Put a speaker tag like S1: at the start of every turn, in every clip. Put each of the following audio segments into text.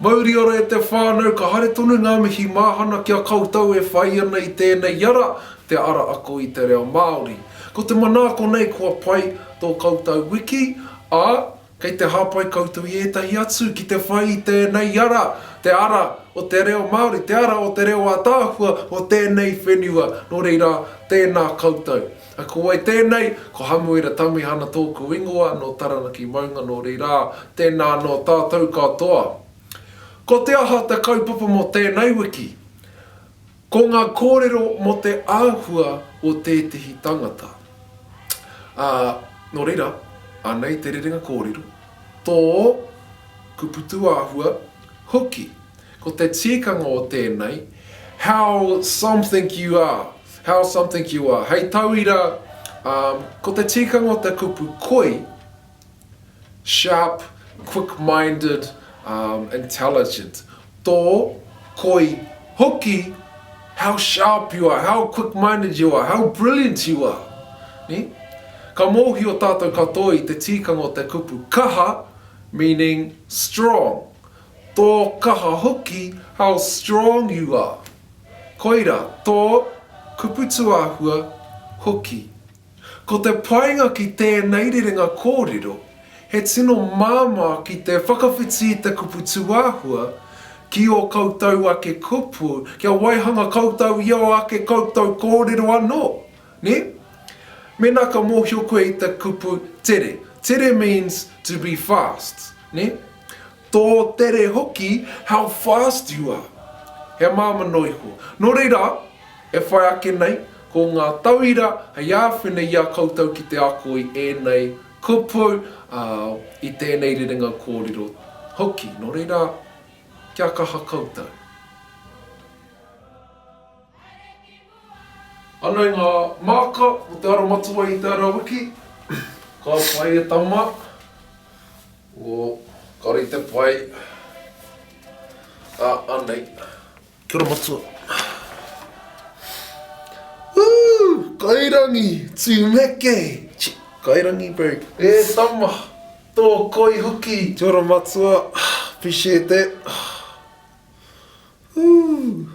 S1: Mauri ora e te whānau, ka haere tonu ngā mihi māhana ki a koutou e whai ana i tēnei ara, te ara ako i te reo Māori. Ko te manaako nei kua pai tō koutou wiki, ā, Kei te hāpai koutou i ētahi atu ki te whai i tēnei ara, te ara o te reo Māori, te ara o te reo ātaahua o tēnei whenua, nō reira, tēnā koutou. Ko wai tēnei? Ko Hamuera Tamihana tōku ingoa, nō Taranaki maunga, nō reira, tēnā anō tātou katoa. Ko te aha te kaupapa mō tēnei wiki? Ko ngā kōrero mō te āhua o tētehi tangata. Ā, nō reira, anei te rerenga kōrero, tō, kuputu āhua, hoki. Ko te tikanga o tēnei, how something you are, how something you are, hei tauira, ā, ko te tikanga o te kupu koi, Sharp, quick minded, intelligent. Tō, koi, hoki, how sharp you are, how quick minded you are, how brilliant you are. Ka mōhio tātou katoa i te tīkanga o te kupu kaha, meaning strong. Tō kaha hoki, how strong you are. Koira, tō, kupu tuāhua, hoki. Ko te painga ki tēnei rerenga kōrero, he tino māmā ki te whakawhiti i te kupu tūāhua, ki ō koutou ake kupu, kia waihanga koutou i ō ake koutou kōrero anō, nē? Mēnā ka mōhio koe i te kupu tere, tere means to be fast, nē? Tō tere hoki, how fast you are. He māmano iho. Nō reira, e whai ake nei, ko ngā tauira hei āwhina i a koutou ki te ako i ēnei kupu, ā, i tēnei rerenga kōrero hoki. Nō reira, kia kaha koutou. Haere ki mua! Anei ngā māka mō te ara matua i te ara wiki. Ka pai e tama. O, kāore i te pai. A, anei. Kia ora matua. Woo! Kairangi! Tumeke! Chi, kairangi bird. E tama! Tō koi hoki! Kia ora matua. Appreciate that. Ooh!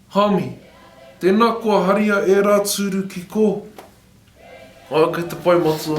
S1: Hami, tena kua haria era turu ki ko. Kei te Pai Matua.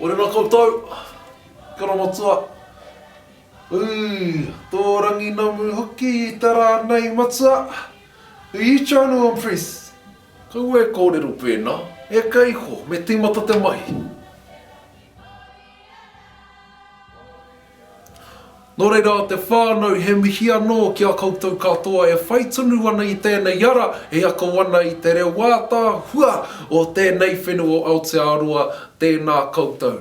S1: Orena koutou, Karamatua. Ooh, tō rangi namu hoki i te rā nei matua. Who you trying to impress? Kaua e kōrero pēnā, e ka iho, me tīmata te mahi. Nō reira a te whānau, he mihi anō ki a koutou katoa e whai tonu ana i tēnei ara e ako ana i te reo ātaahua o tēnei whenua o Aotearoa, tēnā koutou.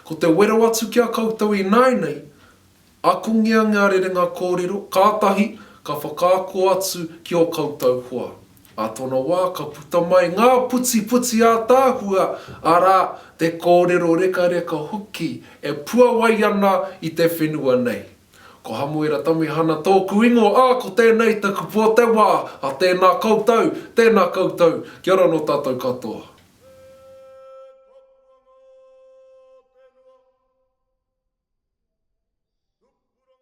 S1: Ko te wero atu ki a koutou ināinei, akongia ngā rerenga kōrero, kātahi ka whakaako atu ki ō koutou hoa. Ā tōna wā ka puta mai ngā putiputi ātaahua, arā, te kōrero rekareka hoki e puawai ana i te whenua nei. Ko Hamuera Tamihana tōku ingoa, ā, ko tēnei taku pō te wā, ā, tēnā koutou, tēnā koutou, kia ora nō tātou katoa.